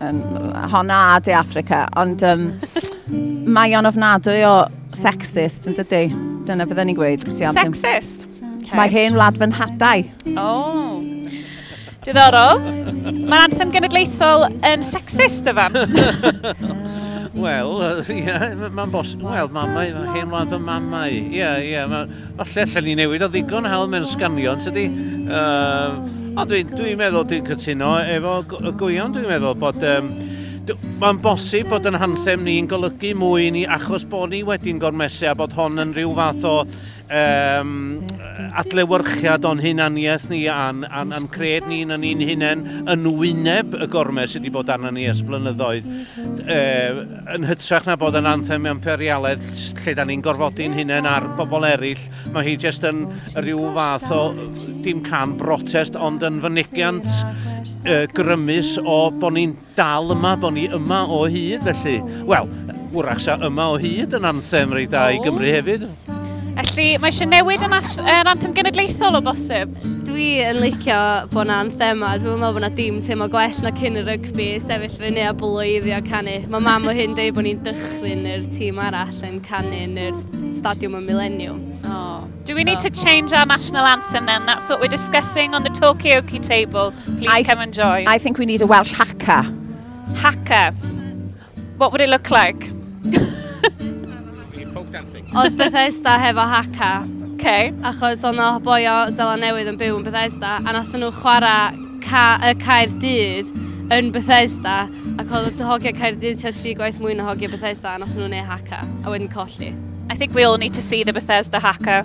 um, hon a De Africa, ond um, mae o'n ofnadwy o sexist yn dydy. Dyna beth ni'n gweud. Sexist? Okay. Mae hen wlad fy nhadau. Oh. Diddorol. Mae'r anthem genedlaethol yn sexist, yfan. Wel, ie, mae'n bosib. Wel, mamau, mae hen wlad o mamau. Ie, ie, Falle allan ni newid o ddigon hawdd mewn sganio, yn tydi? Uh, o, dwi'n dwi meddwl, dwi'n cytuno efo gwion, dwi'n meddwl bod... Um, Mae'n bosib bod yn hansem ni'n golygu mwy ni achos bod ni wedi'n gormesu a bod hon yn rhyw fath o um, adlewyrchiad o'n hunaniaeth ni a'n, an, an cred ni'n yn ni'n hunain yn wyneb y gormes sydd wedi bod arno ni ers blynyddoedd. Uh, Yn hytrach na bod yn anthem imperialaidd lle da ni'n gorfodi'n hunain ar bobl eraill, mae hi jyst yn rhyw fath o, dim can brotest, ond yn fynegiant uh, grymus o bod ni'n dal yma, bod ni yma o hyd, felly, wel, wrach sa yma o hyd yn anthem reit da i Gymru hefyd. Felly, mae eisiau newid yn, yn anthem genedlaethol o bosib? Dwi yn licio bod yna anthema. Dwi'n meddwl bod yna dim teimlo gwell na cyn y rygbi, sefyll fyny a bloeddio canu. Mae mam o hyn dweud bod ni'n dychryn i'r tîm arall yn canu yn yr stadiwm y Millennium. Oh. Do we need to change our national anthem then? That's what we're discussing on the Tokyo Key table. Please I come and join. I think we need a Welsh haka. Haka. What would it look like? folk dancing. Oedd Bethesda hefo Haka. Okay. Achos oedd yna boi o Zela Newydd yn byw yn Bethesda, a nath nhw chwarae ca y cair dydd yn Bethesda, ac oedd y hogiau cair dydd tua tri gwaith mwy na hogiau Bethesda, a nath nhw'n ei Haka, a wedyn colli. I think we all need to see the Bethesda Haka.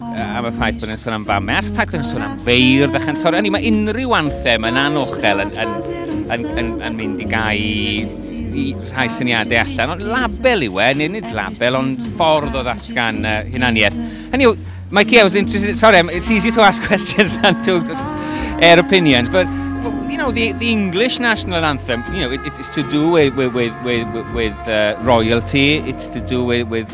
am y ffaith bod yn sôn am famau, a'r ffaith bod yn sôn am feirdd a chantore. Hynny, mae unrhyw anthem yn anochel yn, yn, yn, yn, yn mynd i gau i rhai syniadau allan. Ond label yw e, neu nid label, ond ffordd o ddatgan uh, hunaniaeth. Hynny yw, Mikey, I was interested, sorry, it's easy to ask questions than to air opinions, but you know, the, the English national anthem, you know, it, it's to do with, with, with, with, with uh, royalty, it's to do with, with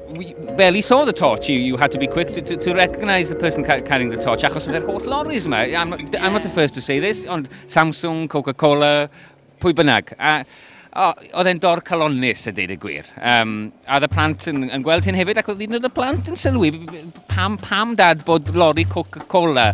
We, well, he saw the torch. You, you had to be quick to, to, to recognise the person ca carrying the torch. Achos oedd e'r holl lorries yma. I'm not, yeah. I'm not the first to say this, ond Samsung, Coca-Cola, pwy bynnag. A, o, oedd e'n dor calonnus a deud y gwir. Um, a oedd y plant yn, yn gweld hyn hefyd, ac oedd un o'r plant yn sylwi, pam, pam dad bod lorry Coca-Cola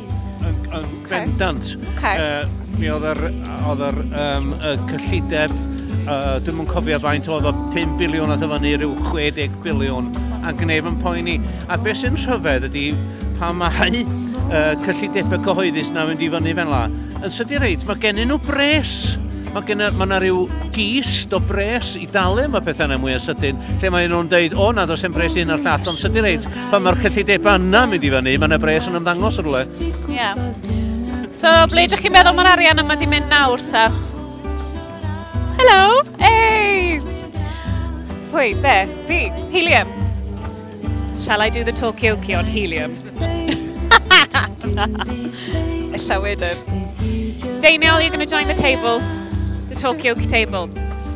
Yn, yn okay. bendant. Okay. Uh, mi oedd yr, oedd yr um, y cyllideb, uh, dwi'n mwyn cofio faint oedd o 5 biliwn a ddyfynu rhyw 60 biliwn, a gwnef yn poeni. A beth sy'n rhyfedd ydy pa mae uh, cyllidebau cyhoeddus na fynd i fyny fel la. Yn sydi reit, mae gennyn nhw bres. Mae gen ma yna rhyw gist o bres i dalu am y pethau yna mwy o sydyn, lle mae nhw'n dweud, o na, dos e'n bres un o'r llall, ond sydi reit, Pan mae'r cyllidebau yna mynd i fyny, mae yna bres yn ymddangos yn rhywle. Ie. Yeah. So, ble ydych chi'n meddwl mae'r arian yma di mynd nawr ta? Helo! Ei! Pwy? Be? Fi? Helium? Shall I do the talkie-okie on helium? Ella wedyn. Daniel, you're going to join the table. The talkie-okie table.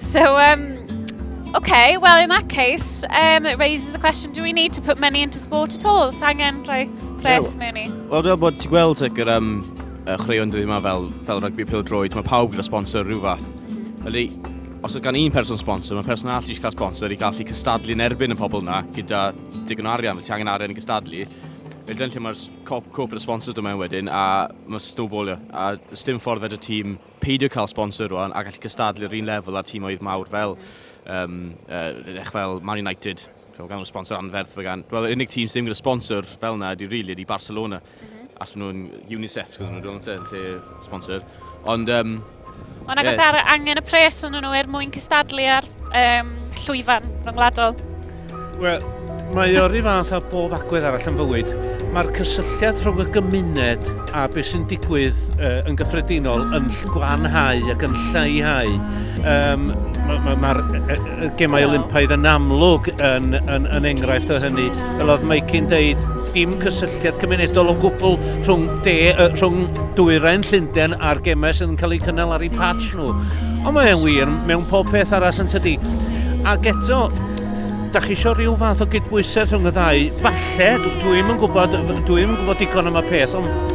So, um, okay, well in that case, um, it raises the question, do we need to put money into sport at all? Sangen rhoi pres yeah, mewn i? Wel, dwi'n bod ti'n gweld ag yr um, uh, chwaraeon dydw yma fel, fel rygbi pil droed, mae pawb gyda sponsor rhyw fath. Felly, os oedd gan un person sponsor, mae person arall eisiau cael sponsor i gallu cystadlu yn erbyn y pobl yna gyda digon arian, felly angen arian i gystadlu. Felly dyna lle mae'r cop, cop y sponsor dyma wedyn, a mae snowballio, a stym ffordd fed y tîm peidio cael sponsor rwan a gallu cystadlu yr un lefel ar tîmoedd mawr fel, um, uh, fel Man United, fel gan nhw sponsor anferth. Gan, wel, yr unig tîm sydd ddim gyda sponsor fel yna ydy really, ydy Barcelona. Mm -hmm. As maen nhw'n UNICEF, gyda nhw'n rhywun yn lle sponsor. Ond... Um, Ond agos yeah. ar angen y pres yn nhw er mwyn cystadlu ar Um, llwyfan ryngwladol. Wel, mae o'r un fath a bob agwedd arall yn fywyd. Mae'r cysylltiad rhwng y gymuned a beth sy'n digwydd uh, yn gyffredinol yn gwanhau ac yn lleihau. Um, Mae'r ma, ma, ma gemau Olympaidd yn amlwg yn, yn, yn enghraifft o hynny. Fel oedd Mike'n deud, dim cysylltiad cymunedol o gwbl rhwng, de, uh, rhwng dwyrain Llundain a'r gemau sydd yn cael eu cynnal ar ei patch nhw. Ond mae e'n wir mewn pob peth arall yn tydi. Ac eto, da chi eisiau rhyw fath o gydbwysau rhwng y ddau. Falle, dwi'n yn gwybod, dwi'n yn gwybod digon am y peth, ond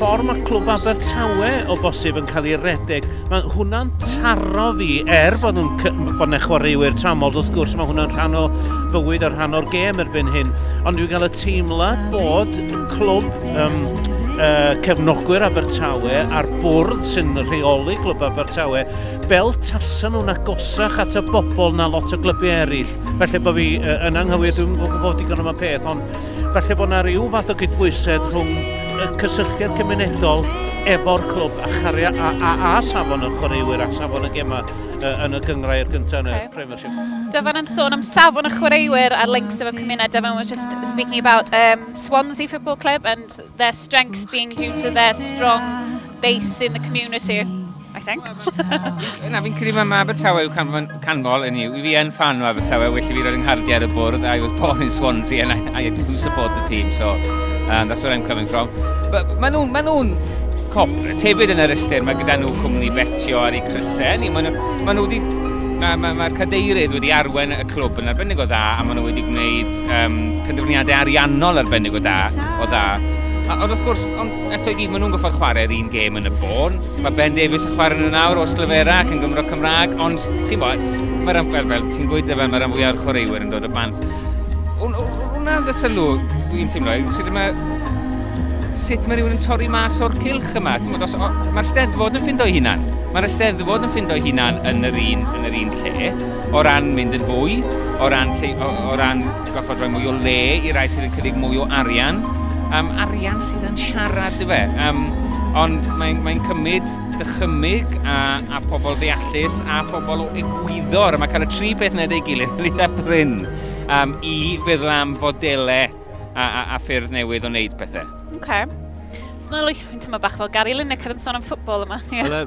ffordd mae clwb Abertawe o bosib yn cael ei redeg, mae hwnna'n taro fi, er bod nhw'n bod nhw'n chwaraewyr tramol, wrth gwrs, mae hwnna'n rhan o fywyd a rhan o'r gêm erbyn hyn. Ond dwi'n cael y teimlad bod clwb um, uh, cefnogwyr Abertawe a'r bwrdd sy'n rheoli glwb Abertawe fel tasa nhw'n agosach at y bobl na lot o glybu eraill. Felly bod fi uh, yn anghywir, dwi'n gwybod digon am y peth, ond felly bod yna rhyw fath o gydbwysedd rhwng y cysylltiad cymunedol efo'r clwb a, charia, a, a, a safon y chwaraewyr a safon y gemau uh, yn y gyngrau i'r gyntaf yn y okay. Premiership. Dyfan yn sôn am safon y chwaraewyr a'r links efo cymuned, Dyfan was just speaking about um, Swansea Football Club and their strength being due to their strong base in the community, I think. Na, fi'n credu mae Abertawe yw canfon, canmol yn yw. Fi yn fan o Abertawe, well i fi roed yng nghardiau ar y bwrdd. I was born in Swansea and I, I do support the team, so um, that's where I'm coming from. But maen nhw'n ma nhw corporate hefyd yn yr ystyr, mae gyda nhw cwmni betio ar ei crysau. Maen nhw, ma nhw wedi Mae'r ma, ma cadeirydd wedi arwen y clwb yn arbennig o dda a maen nhw wedi gwneud um, cyndwrniadau ariannol arbennig o da, o dda. A, ond wrth gwrs, ond eto i gyd, maen nhw'n goffod chwarae'r un gêm yn y bôn. Mae Ben Davies yn chwarae nhw'n awr o Slyfera ac yn Gymro Cymraeg, ond ti'n bod, mae'r amfer fel, ti'n gwyta fe, mae'r amfwy o'r chwaraewyr yn dod o bant. Wna'n dda sylw, dwi'n teimlo, sut mae sut mae rhywun yn torri mas o'r cilch yma. Mae'r steddfod yn ffindo ei hunan. Mae'r steddfod yn ffindo ei hunan yn yr un, yn yr un lle. O ran mynd yn fwy, o ran, te, o, o ran goffod rhoi mwy o le i rai sydd yn cynnig mwy o arian, um, arian sydd yn siarad, dyfe. Um, ond mae'n mae cymryd dychymyg a, a pobl ddeallus a phobl o egwyddor. A mae cael y tri peth yna ei gilydd yn eitha bryn um, i feddwl am fodelau a, a, a ffyrdd newydd o wneud pethau. Okay. Snoelwch, fi'n tyma bach fel Gary Lineker yn sôn am ffwbol yma. Yeah.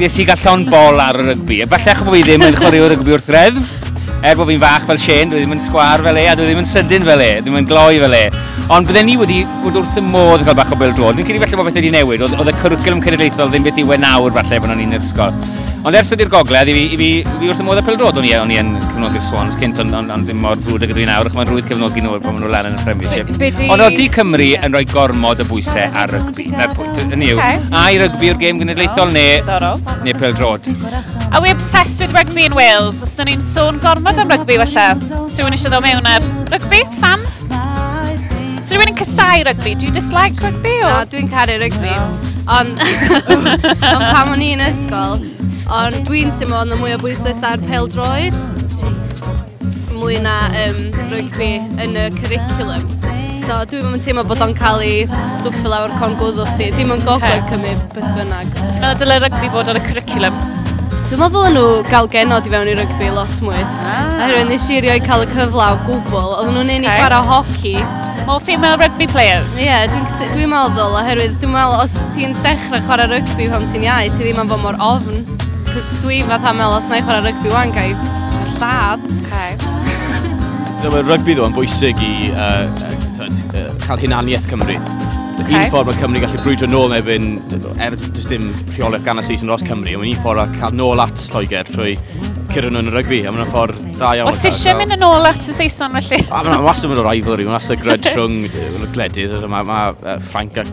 Nes i gael llon bol ar y rygbi. Efallai achos bod fi ddim yn chwarae o rygbi wrth reddf. Er bod fi'n fach fel Shane, dwi ddim yn sgwar fel e, a dwi ddim yn sydyn fel e, ddim yn gloi fel e. Ond bydden ni wedi bod wrth y modd yn cael bach o bêl drod. Dwi'n credu falle bod beth wedi newid, oedd, oedd y cwricwlwm cenedlaethol ddim beth yw e nawr falle pan o'n i'n yr ysgol. Ond ers ydy'r gogledd, i fi, i fi, i fi wrth y modd y pêl drod, o'n i, o'n i yn cyfnodi'r Swans cynt, ond on, on ddim mor frwd ag ydw i nawr, ac mae'n rwydd cefnogi nhw pan maen nhw lan yn y Premiership. Ond oeddi Cymru yn rhoi gormod o bwysau ar rygbi. Dyna pwynt, yn yw. A i rygbi o'r gêm genedlaethol neu, neu pel drod. A we obsessed with rugby in Wales? Os da ni'n sôn gormod am rygbi, felly. Sy'n rhywun eisiau ddod mewn ar rygbi? Fans? Sy'n rhywun yn cysau rygbi? Do you dislike rygbi? Na, dwi'n caru rygbi. Ond, ond pam o'n i'n ysgol, ond dwi'n symud ond y mwy o bwyslais ar pel droed. mwy na um, rygbi yn y curriculum. So dwi'n mynd teimlo bod o'n cael ei stwffio lawr con gwddw chdi. Dim yn gogledd Cymru beth bynnag. Ti'n meddwl dylai rygbi fod ar y curriculum? Dwi'n meddwl ddylen nhw gael genod i fewn i rygbi lot mwy. Ah. Oherwydd nes i rioed cael y cyfle o gwbl. Oedden nhw'n un i okay. chwarae hoci. More female rugby players? Ie, yeah, dwi'n dwi, dwi meddwl, oherwydd dwi'n meddwl os ti'n dechrau chwarae rygbi pan ti'n iau, ti ddim yn fod mor ofn. Cos dwi fatha mel os na i chwarae rygbi wan, gai lladd. Okay. Dyma mae rygbi ddo'n bwysig i uh, uh, cael hunaniaeth Cymru. Okay. Un ffordd mae Cymru gallu brwydro nôl neu erbyn, er dys dim rheolaeth gan y seis yn os Cymru, ond un ffordd a cael nôl at Lloegr trwy cyrraedd nhw'n rygbi, a mae'n ffordd da iawn. Os eisiau mynd yn ôl at y Saeson felly? A mae'n wastad mynd o rivalry, mae'n wastad gryd rhwng gwledydd, mae ma, uh, Ffrainc ac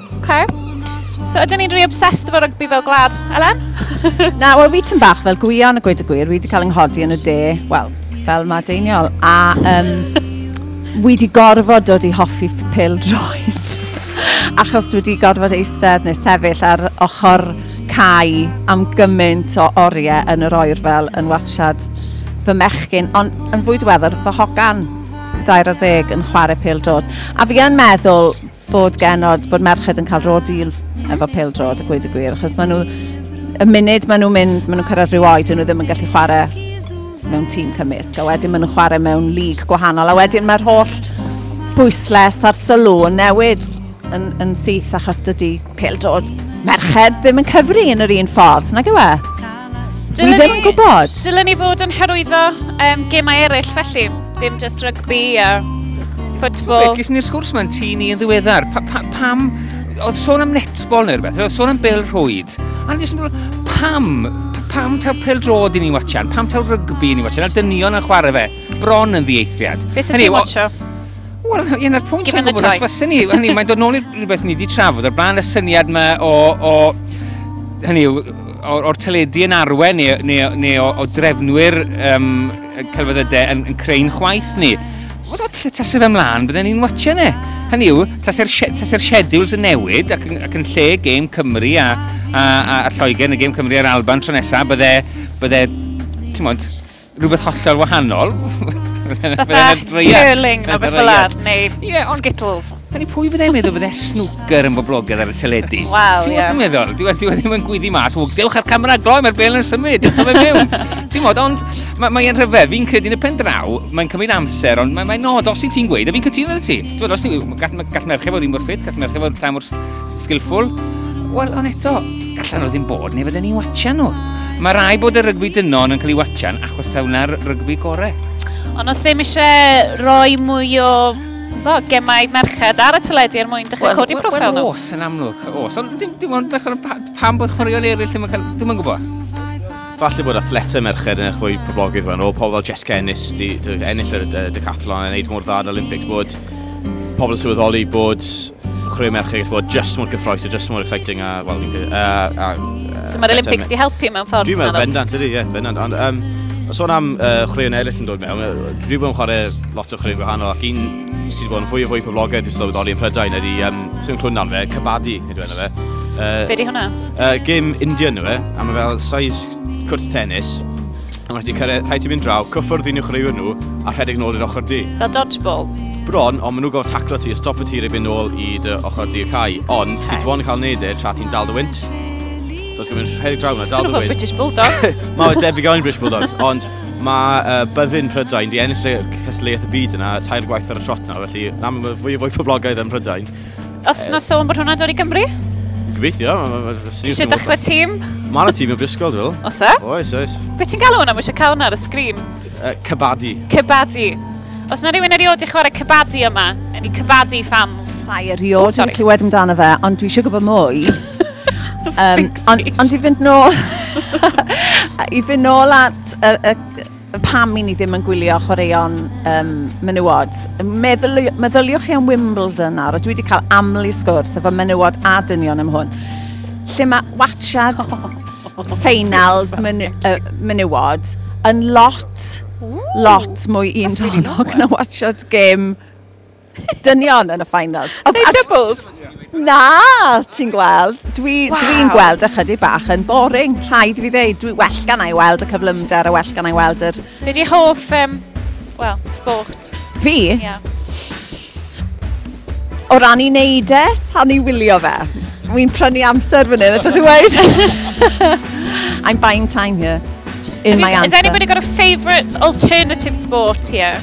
Okay. So ydyn ni'n rhy obsessed efo rygbi fel gwlad, Elen? Na, wel fi tyn bach fel gwion y gweud y gwir, fi wedi cael yng nghodi yn y de, wel, fel mae deiniol, a um, wi wedi gorfod dod i hoffi pil droed. achos dwi wedi gorfod eistedd neu sefyll ar ochr cae am gymaint o oriau yn yr oer fel yn watchad fy mechgyn, ond yn fwy diweddar fy hogan dair ar ddeg yn chwarae pêl drod. A fi yn meddwl bod genod, bod merched yn cael rôl deal efo pêl-drod, a gweud y gwir, achos maen nhw, y munud maen nhw'n mynd, maen nhw'n cyrraedd rhyw oed, nhw ddim yn gallu chwarae mewn tîm cymysg, a wedyn maen nhw'n chwarae mewn lig gwahanol, a wedyn mae'r holl bwysles a'r sylw yn newid yn, yn syth, achos dydy pêl-drod merched ddim yn cyfri yn yr un ffordd, nag yw e? Dylen Wi ddim yn gwybod. Dylen ni fod yn hyrwyddo um, gemau eraill felly, ddim just rygbi a ffwtbol. Ges ni'r sgwrs mae'n tŷ ni yn ddiweddar. Pa, pa, pam, oedd sôn am netbol neu rhywbeth, oedd sôn am bel rhwyd. A nes i'n pam, pam taw pel drod i ni watchan, pam taw rygbi i ni watchan, a dynion yn chwarae fe, bron yn ddiaethriad. Fe sy'n ti'n watcho? Wel, un o'r pwynt o'n gwybod, os fysa ni, hynny, mae'n dod nôl i rhywbeth ni wedi trafod o'r blaen, y syniad yma o, o hynny yw, o'r, or teledu yn arwen neu, neu, neu o, o drefnwyr um, celfyddydau yn, yn creu'n chwaith ni. Wel, da, lle tasau fe mlaen, byddai'n ni'n watcha ni. Hynny yw, tasau'r tase scheduled yn newid ac yn, ac yn lle gêm Cymru a, a, a, a Lloegr yn y gêm Cymru a'r Alban tro nesaf, bydde, bydde, ti'n mwyn, rhywbeth hollol wahanol. Fatha curling neu beth fel ar, neu yeah, on, skittles. Hynny pwy fydde'n meddwl fydde snwcer yn boblogaidd ar y teledu? Wel, ie. Ti'n meddwl? Dwi wedi ddim yn gwyddi mas. O, dewch ar camera gloi, mae'r bel yn symud. Dewch fe mewn. Ti'n modd, ond mae'n mae rhyfedd. Fi'n credu yn y pen draw, mae'n cymryd amser, ond mae'n mae nod os i ti'n gweud, a fi'n cytuno ar ti. Ti'n modd, os ti'n gall, gall merched fod un mor ffit, gall merched fod rhan mor skillful. Wel, ond eto, Gallan nhw ddim bod, neu fydden ni'n watcha nhw. Mae rai bod y rygbi dynon yn cael ei watchan achos taw na'r rygbi gore. Ond os ddim eisiau rhoi mwy o bo, gemau merched ar y teledu er mwyn dechrau codi profil nhw. Wel, os yn amlwg, os. Ond dim, dim ond bechod pam bod chwaraeon eraill ddim yn cael... Dwi'n yn gwybod. Falle bod athletau merched yn eich fwy poblogydd fan o, pobl fel Jessica Ennis, di, di, ennill y uh, decathlon yn neud mor dda yn Olympics, bod pobl yn sylweddoli bod chwarae merched gallu bod just mor gyffroes a just mor exciting a, well, a, a, a So mae'r Olympics di helpu mewn ffordd? Dwi'n meddwl, bendant ydy, ie, yeah, bendant. Ond, um, sôn am uh, chwaraeon eraill yn dod mewn, dwi wedi bod yn chwarae lot o chwaraeon gwahanol ac un sydd wedi bod yn fwy o fwy poblogaidd dwi'n sylweddoli yn Prydain ydy, um, sy'n clwn nawr fe, Cabadi, nid yw'n fe. Uh, Be di hwnna? Uh, gym Indian yw e, a mae fel size cwrt tennis, a mae ti'n cyrraedd, rhaid ti'n mynd draw, cyffwrdd un i'w chreu nhw, a rhedeg nôl i'r ochr di. Fel dodgeball? Bron, ond maen nhw'n gofod taclo ti a stop y tir i fynd nôl i dy ochr di y cae. Ond, okay. ti'n dwi'n cael neud e tra ti'n dal dy wynt. So ti'n mynd rhedeg draw yna, dal dy wynt. Swn British Bulldogs. Mae'n debyg o'n British Bulldogs, ond Mae uh, byddin Prydain di ennill y cystadleuaeth y byd yna tair gwaith ar y trot nawr, felly na mae fwy o fwy poblogaidd yn Prydain. Os na sôn bod hwnna'n dod i Gymru? Gobeithio. Ti eisiau dechrau tîm? Mae yna tîm yn Bristol, dwi'n meddwl. Os e? Oes, oes. Be ti'n galw hwnna? Mae eisiau cael hwnna ar y sgrin. Uh, cybadi. Cybadi. Os na rhywun erioed i chwarae cybadi yma, yn i cybadi fans. Mae erioed yn clywed amdano fe, ond dwi eisiau gwybod mwy. um, ond on i fynd nôl... I fynd nôl at y, y, y pam i ni ddim yn gwylio chwaraeon um, menywod. Meddyli, meddyliwch chi am Wimbledon nawr, a dwi wedi cael amlu sgwrs efo menywod a dynion am hwn. Lle mae watchad ffeinals men, uh, menywod yn lot, lot mwy un tonog na watchad gêm dynion yn y finals. Are they doubles? Na, ti'n gweld. Dwi'n wow. dwi gweld ychydig bach yn boring, rhaid i fi ddeud. Dwi well gan i weld y cyflymder a well gan i weld yr... Be di hoff, um, well, sport? Fi? Yeah. O ran i wneud e, tan i wylio fe. Wy'n prynu amser fan hyn, ydych chi'n weid? I'm buying time here in my answer. Has anybody got a favourite alternative sport here?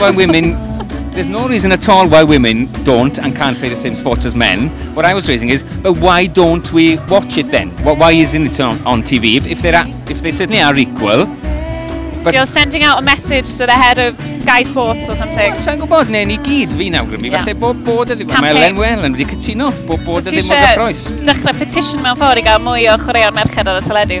why women there's no reason at all why women don't and can't play the same sports as men. What I was raising is, but why don't we watch it then? Why isn't it on, on TV? If, if, they're at, if they certainly are equal, But... So you're sending out a message to the head of Sky Sports or something? Well, sa'n gwybod, neu ni gyd fi'n awgrymu, yeah. falle bod bod ydy, mae Len Well yn wedi cytuno, bod bod ydy mod y croes. Dechrau petition mewn ffordd i gael mwy o chwaraeon merched ar y teledu.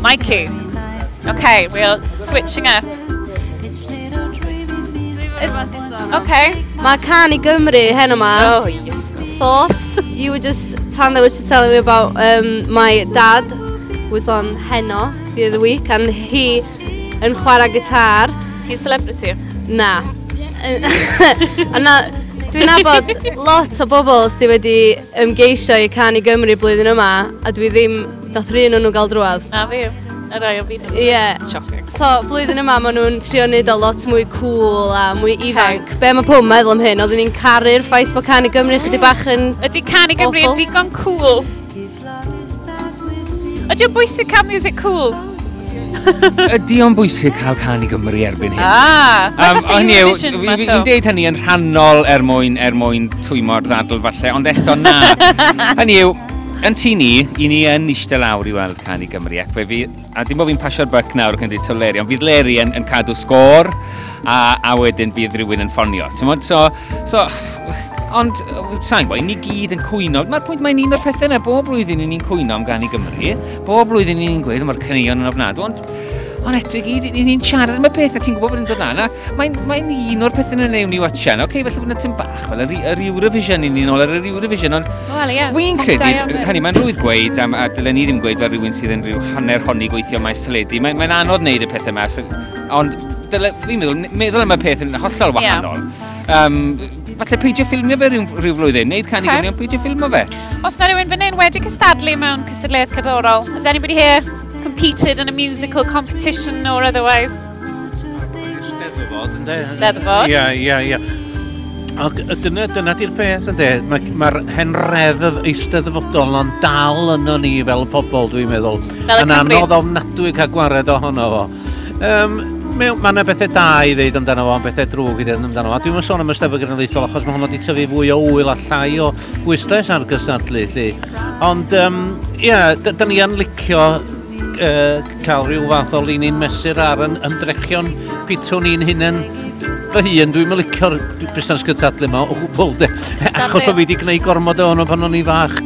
Mikey. Okay, we're switching up. Okay. Mae can i Gymru hen yma. Oh, yes. Thoughts. You were just, Tanda was just telling me about um, my dad was on Heno the other week and he yn chwarae gitar. Ti'n celebrity? Na. a na, dwi'n nabod lot o bobl sydd wedi ymgeisio i can i Gymru blwyddyn yma a dwi ddim Dath rhywun o'n nhw gael drwad. Na fi, y rai o fi. Ie. Yeah. Shocking. So, flwyddyn yma maen nhw'n trio wneud o lot mwy cool a mwy ifanc. Okay. Be mae pob meddwl am hyn? Oedden ni'n caru'r ffaith bod Can i Gymru chyddi bach yn... Ydy Can i Gymru yn digon cool? Ydy o'n bwysig cael music cool? Ydy o'n bwysig cael can i Gymru erbyn hyn? Ah, um, o'n i, fi'n deud hynny yn rhannol er mwyn, er mwyn twymo'r ddadl falle, ond eto na. hynny yw, Yn tŷ ni, i ni yn eistedd lawr i weld Can i Gymru ac fe fydd, a dim bod fi'n pasio'r buck nawr ac yn dweud taw Leri, ond fydd Leri yn, yn cadw sgôr a, a wedyn bydd rhywun yn ffonio. Tymod, so, so, ond sa'n gwybod, ni gyd yn cwyno. Mae'r pwynt mae'n un o'r pethau yna, bob blwyddyn ni'n cwyno am Gan i Gymru, bob blwyddyn ni'n gweud mae'r caneuon yn ofnadw, ond Ond eto i gyd, ni'n siarad am y peth, a ti'n gwybod bod yn dod lan, a mae'n mae un o'r pethau yna newn ni watchan, oce, okay, felly bod yna tyn bach Ach, wel, yr Eurovision, ni'n un ôl ar yr Eurovision, ond... Wel, ie. Wy'n credu, hynny, mae'n rhwydd gweud, am, a dylen ni ddim gweud fel rhywun sydd yn rhyw hanner honni gweithio maes teledu, mae'n mae anodd wneud y pethau yma, so, ond fi'n meddwl, meddwl am y peth yn hollol wahanol. Yeah. Um, falle peidio ffilmio fe rhyw, rhyw flwyddyn, neud canu okay. gynion peidio ffilmio fe. Os na rhywun fan hyn wedi cystadlu mewn cystadleuaeth cerddorol, has anybody here competed in a musical competition or otherwise? Steddfod, ynde? Steddfod. Ia, ia, ia. Ac dyna, dyna di'r peth ynde, mae'r ma henredd eisteddfodol yn dal yno ni fel pobl dwi'n meddwl. Fel y Cymru. anodd ofnadwy cael gwared ohono fo. Um, Mae ma yna bethau da i ddeud amdano fo, bethau drwg i ddeud amdano fo. Dwi'n mynd sôn am ystafell genedlaethol achos mae hwnnw wedi tyfu fwy o wyl a llai o bwyslais ar gysadlu, lle. Ond, um, ia, yeah, da ni yn licio uh, cael rhyw fath o linyn mesur ar yn ymdrechion pitwn ni'n hyn yn fy hun, dwi'n mylicio'r busnes gytadlu yma o gwbl de. Achos bod fi wedi gwneud gormod o hwnnw pan o'n i fach.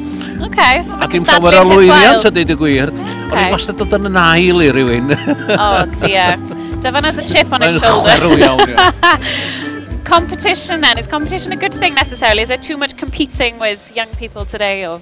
Okay, so a dim llawer o lwyddiant ydy dy gwir. Okay. O'n i'n wastad dod yn yn ail i rywun. O, oh, dia. Dyfan as a chip on his shoulder. Mae'n chwerw iawn, iawn. competition then? Is competition a good thing necessarily? Is there too much competing with young people today? Or?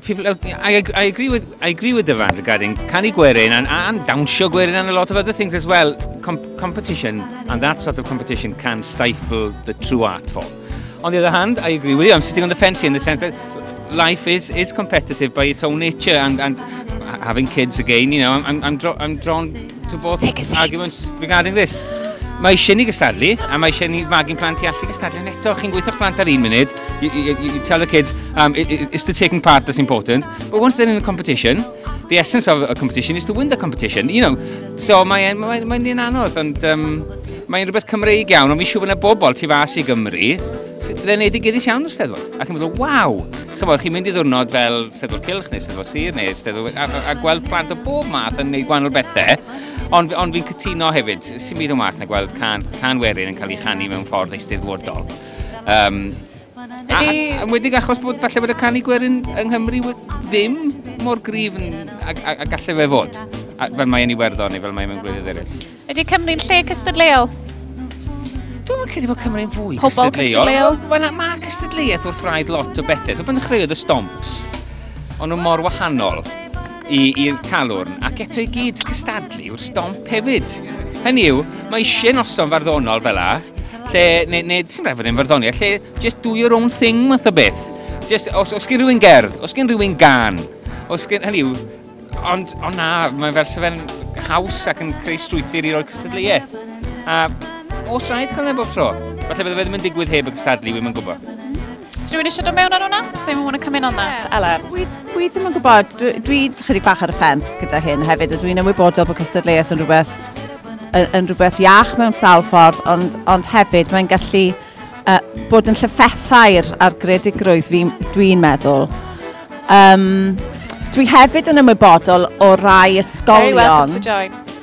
People, uh, I, I, agree with, I agree with Dyfan regarding canu gwerin and, and dawnsio gwerin and a lot of other things as well. Com competition and that sort of competition can stifle the true art form. On the other hand, I agree with you. I'm sitting on the fence here in the sense that life is, is competitive by its own nature and, and having kids again, you know, I'm, I'm, I'm, dro I'm drawn to both arguments regarding this. Mae eisiau ni gystadlu, a mae eisiau ni fagu'n plant i allu gystadlu. Yn eto, chi'n gweithio'ch plant ar un munud, You, you, you tell the kids, um, it, it, it's the taking part that's important. But once they're in a competition, the essence of a competition is to win the competition, you know. So mae'n mae, mae, mae anodd, ond um, mae'n rhywbeth Cymreig iawn, ond fi siŵr bod yna bobl tu fas i Gymru, le wneud i gyddus iawn o'r steddfod. Ac yn meddwl, waw! Chymod, chi'n mynd i ddwrnod fel Steddfod Cilch neu Steddfod Sir neu Steddfod... A, a, a gweld plant o bob math yn gwneud gwahanol bethau. Ond, ond fi'n cytuno hefyd, sy'n byd o math na gweld can, can werin yn cael ei chanu mewn ffordd eisteddfodol. Um, Yn wedig achos bod falle bod y canu gwerin yng Nghymru ddim mor grif a, a, a gallu fe fod, a, fel mae'n Iwerddon neu fel mae'n mewn gwledydd eraill. Ydy Cymru'n lle cystadleuol? Dwi'n meddwl credu bod Cymru'n fwy Pobol cystadleuol. Wel, mae cystadleuaeth wrth rhaid lot o bethau. Dwi'n meddwl chreuodd y stomps. Ond nhw mor wahanol. i, i'r talwrn ac eto i gyd cystadlu yw'r stomp hefyd. Hynny yw, mae eisiau noson farddonol fel la, lle, neu, neu sy'n rhaid fod yn farddoniaeth, lle just do your own thing math o beth. Just, os, os gen rhywun gerdd, os gen rhywun gan, os gen, hynny yw, ond, ond na, mae'n fel sefyll haws ac yn creu strwythyr i roi cystadleuaeth. A os rhaid cael neb o'r tro, falle bydde fe ddim yn digwydd heb y cystadlu, wy'n gwybod. Os rhywun eisiau dod mewn ar hwnna? Does anyone want to come in on that? Ella. Dwi, dwi ddim yn gwybod, dwi, dwi chydig bach ar y ffens gyda hyn hefyd, a dwi'n ymwybodol bod cystadleuaeth yn rhywbeth, yn, yn rhywbeth iach mewn sawl ffordd, ond, ond hefyd mae'n gallu uh, bod yn llyffethau'r ar gredigrwydd dwi'n meddwl. Um, dwi hefyd yn ymwybodol o rai ysgolion... Very welcome to join.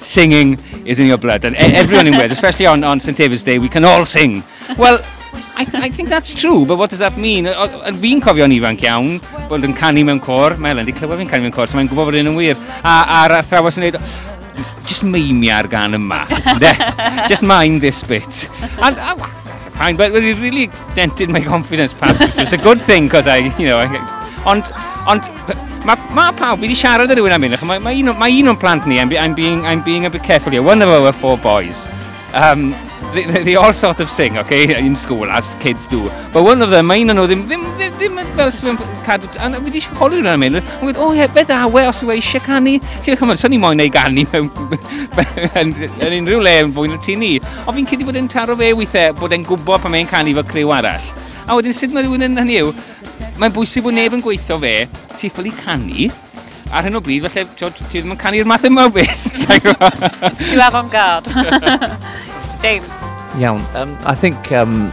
Singing is in your blood, and e- everyone in Wales, especially on, on St David's Day, we can all sing. Well, I, I think that's true, but what does that mean? Fi'n cofio'n ifanc iawn bod yn canu mewn cor. Mae Elen wedi clywed fi'n canu mewn cor, so mae'n gwybod bod hyn yn wir. A, a'r athrawes yn dweud, just meimia'r gan yma. Just mind this bit. And, uh, fine, but it really dented my confidence perhaps, which was a good thing, because I, you know, I, ond, ond, mae ma pawb, fi wedi siarad â rhywun am hyn, mae ma un, ma un o'n plant ni, I'm, I'm, being, I'm being a bit careful here, one of our four boys, um, they, they all sort of sing, okay, in school, as kids do, but one of them, mae un o'n nhw ddim, ddim, ddim, ddim ddim fel sy'n cadw, a fi wedi holi hwnna am hyn, yn gweud, o ie, fe dda, we, os yw eisiau canu, chi'n chymryd, sy'n ni moyn ei ganu yn unrhyw le yn fwy na ti ni, Ond fi'n credu bod e'n taro fe weithiau bod e'n gwybod pan mae'n canu fel criw arall. A wedyn sut mae rhywun yn hynny yw, mae'n bwysig bod neb yn gweithio fe, ti ffili canu, ar hyn o bryd, felly, ti ddim yn canu'r math yma o beth. It's too avant-garde. James. Iawn. Um, I think um,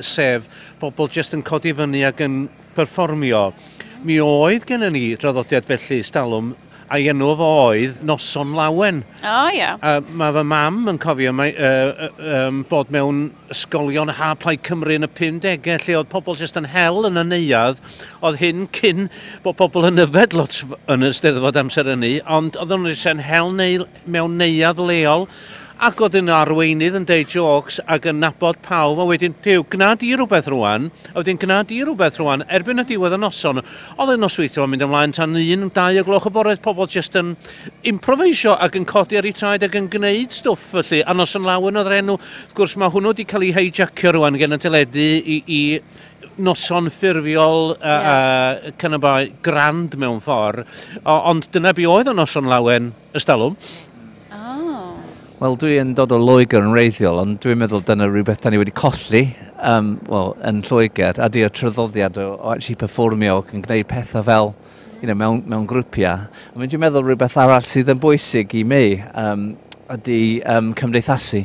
sef pobl jyst yn codi fyny ac yn perfformio. Mi oedd gennym ni draddodiad felly, stalwm, a'i enw fo oedd Noson Lawen. O, oh, ia. Yeah. A mae fy mam yn cofio mae, uh, um, bod mewn ysgolion ha Plaid Cymru yn y 50au lle oedd pobl jyst yn hel yn y neuad. Oedd hyn cyn bod pobl yn yfed lot yn y steddfod amser ynni, ond oedd nhw'n jyst yn hel neu mewn neuadd leol ac oedd un o arweinydd yn deud jôcs ac yn nabod pawb a wedyn Duw, gwna di rhywbeth rwan a wedyn gwna di rhywbeth rwan erbyn y diwedd y noson oedd y nosweithiol yn mynd ymlaen tan un, dau o gloch y bore oedd pobl jyst yn improveisio ac yn codi ar eu traed ac yn gwneud stwff felly a Noson Lawen oedd yr enw wrth gwrs mae hwnnw wedi cael ei heijacio rwan gen y teledu i, i noson ffurfiol uh, yeah. uh, cyn y bai grand mewn ffordd ond dyna be oedd y noson lawen Ystalwm. Wel, dwi yn dod o Loegr yn reiddiol, ond dwi'n meddwl dyna rhywbeth da ni wedi colli um, well, yn Lloegr, a di'r tryddoddiad o, o actually performio ac yn gwneud pethau fel you know, mewn, mewn grwpiau. Ond dwi'n meddwl rhywbeth arall sydd yn bwysig i mi um, ydy um, cymdeithasu.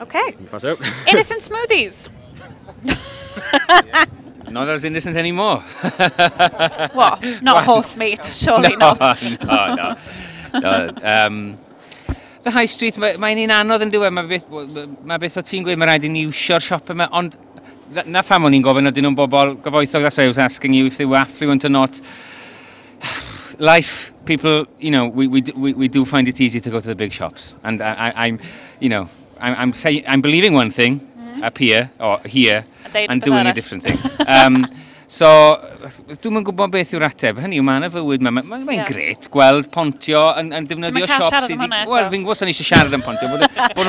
Okay. Innocent smoothies. not as innocent anymore. what? Not horse meat, surely no, not. no, no. no um, the high street, mae'n mae un anodd yn diwedd, mae beth, mae beth o ti'n gweud, mae rhaid i ni iwsio'r siop yma, ond na pham o'n i'n gofyn, oedden nhw'n bobl gyfoethog, that's why I was asking you if they were affluent or not. life, people, you know, we, we, we, we do find it easy to go to the big shops. And I, I, am you know, I'm, I'm, say, I'm believing one thing mm-hmm. up here, or here, and doing a different thing. Um, so, dwi'n mynd gwybod beth yw'r ateb. Hynny yw, mae yna fywyd, mae'n ma, ma, ma yeah. gret gweld pontio yn, yn defnyddio siop sydd... Ti'n mynd cael siarad am hwnna eto? Wel, fi'n gwybod sa'n eisiau siarad am pontio.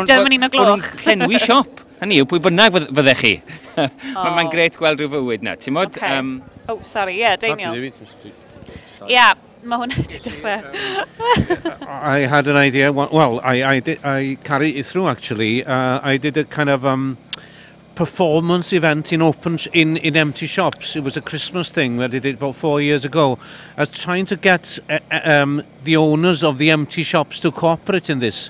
Dyma ni'n o gloch. Bod nhw'n llenwi siop. Hynny yw, pwy bynnag fyddech chi. oh. Mae'n gret gweld rhyw fywyd na, ti'n modd? Okay. Um, oh, sorry, ie, yeah, Daniel. Ie, yeah, mae hwnna wedi dechrau. I had an idea, well, I, I, did, I carried it through actually. Uh, I did a kind of um, performance event in open in, in empty shops. It was a Christmas thing that I did about four years ago. I was trying to get uh, uh um, the owners of the empty shops to cooperate in this.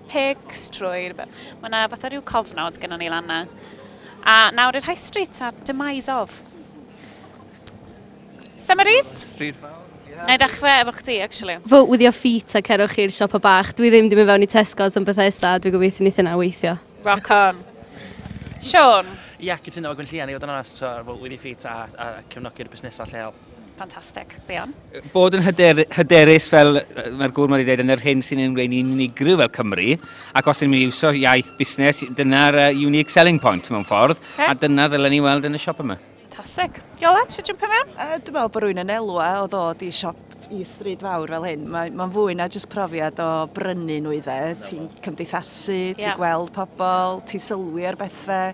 Pics trwy rhywbeth. Mae yna fatha rhyw cofnod gennon ni lan na. A nawr i'r High Street a demise of. Summaries? Street fawr. Yeah. Na i ddechrau efo chdi, actually. Vote with your feet a cerwch i'r siopa bach. Dwi ddim di mynd fewn i Tesco's yn Bethesda a dwi gobeithio ni thynna weithio. Rock on. Sean? Ia, cytuno efo Gwynllian i fod yn onest, so vote with your feet a, a cefnogi'r busnesau lleol. Fantastic, be on? Bod yn hyder, hyderus fel mae'r gŵr wedi dweud yn yr hyn sy'n ein gwneud ni'n unigryw fel Cymru, ac os ydym ni'n iwsio iaith busnes, dyna'r uh, unique selling point mewn ffordd, okay. a dyna ddylen ni weld yn y siop yma. Fantastic. Iola, ti'n jump mewn? Uh, dwi'n meddwl bod rwy'n yn elwa o ddod i siop i stryd fawr fel hyn. Mae'n ma fwy na jyst profiad o brynu nhw i dde. Ti'n cymdeithasu, ti'n yeah. gweld pobl, ti'n sylwi ar bethau,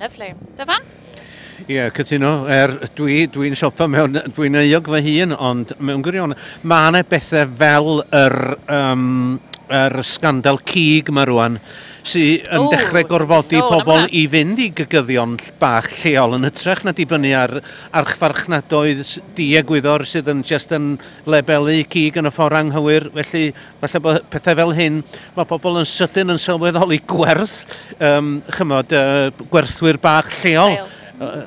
Lyfli. Dyfan? Ie, yeah, cytuno. Er, dwi, dwi'n siopa mewn, dwi'n euog fy hun, ond mewn gwirion, mae yna bethau fel yr, um, yr sgandal cig mae rwan, sy'n yn dechrau gorfodi pobl i fynd i gygyddion bach lleol yn hytrach na dibynnu ar archfarchnadoedd diegwyddor sydd yn just yn lebelu cig yn y ffordd anghywir. Felly Falle bod pethau fel hyn, mae pobl yn sydyn yn sylweddoli gwerth, um, chymod, uh, gwerthwyr bach lleol. Uh,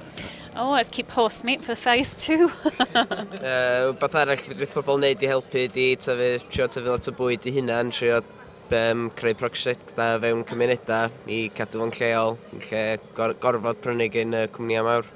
oh, let's keep horse meat for phase two. uh, beth arall fydd pobl wneud i helpu di tyfu, trio tyfu lot o bwyd i hunan, trio um, creu prosiectau fewn cymunedau i cadw fo'n lleol, lle gor gorfod prynu gen y cwmnïau mawr.